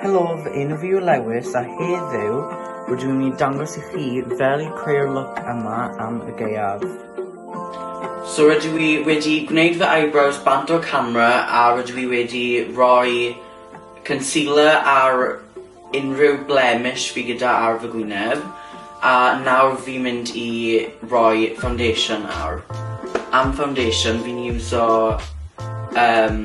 Helo, fy enw fi yw Lewis a heddiw rydyn nhw'n i'n dangos i chi fel i creu'r look yma am y gaeaf. So rydw i wedi gwneud fy eyebrows bant o'r camera a rydw i wedi rhoi concealer ar unrhyw blemish fi gyda ar fy gwyneb a nawr fi'n mynd i rhoi foundation nawr. Am foundation fi'n iwso um,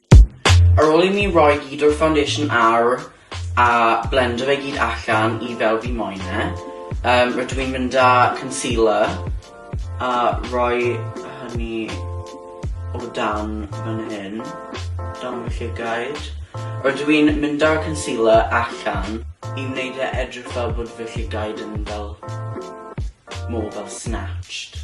Ar ôl i mi roi gyd o'r foundation ar a blendo fe gyd allan i fel fi moyn e yym rydw i'n mynd â concealer a rhoi hynny o dan fan hyn dan fy llygaid. Rydw i'n mynd â'r concealer allan i wneud e edrych fel bod fy llygaid yn fel mor fel snatched.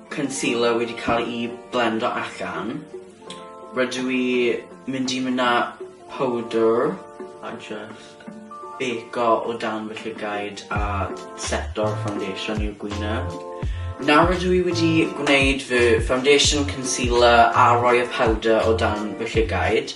concealer wedi cael ei blendo allan. Rydw i mynd i mynd â powdr a jyst bêco o dan fy llygaid a seto'r foundation i'w gwyneb. Nawr rydw i wedi gwneud fy foundation, concealer a rhoi y powdr o dan fy llygaid,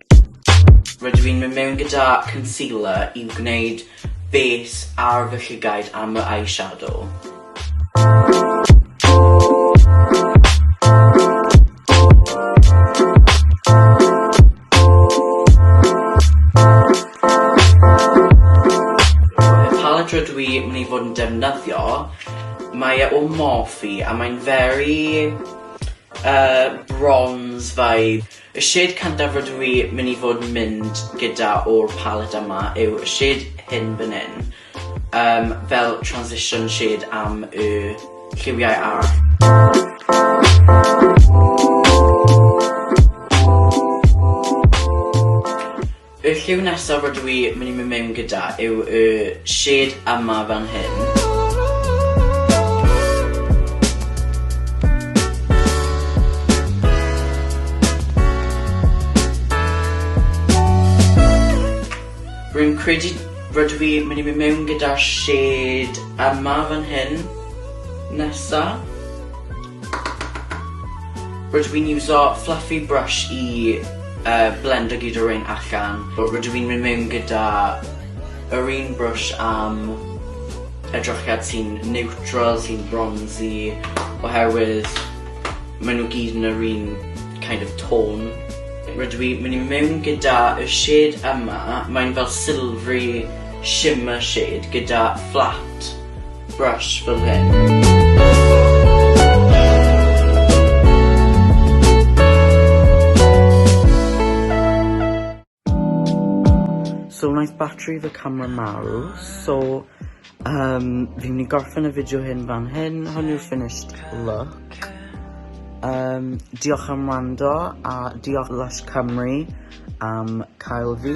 Rydw i'n mynd mewn gyda concealer i wneud base ar fy llygaid am fy eyeshadow. rydw i mynd i fod yn defnyddio, mae e o Morphe a mae'n very yy bronze vibe. Y shade cyntaf rydw i mynd i fod yn mynd gyda o'r palette yma yw y shade hyn fan hyn, yym fel transition shade am y lliwiau arall. Y lliw nesaf rydw i mynd i mynd mewn gyda yw y shade yma fan hyn. Rwy'n credu rydw i mynd i mynd mewn gyda shade yma fan hyn. Nesa. Rydw i'n iwso fluffy brush i yy blendo gyd o rein allan. Rydw i'n mynd mewn gyda yr un brush am edrychiad sy'n niwtral, sy'n bronsi oherwydd ma' nw gyd yn yr un kind of tone. Rydw i myn' i mewn gyda y shade yma mae'n fel silvery shimmer shade gyda fflat. Brass fel hyn. So wnaeth batri fy camera marw, so yym fi'n mynd i gorffen y fideo hyn fan hyn, hwn yw'r finished look. Yym diolch am wrando a diolch Lush Cymru am cael fi.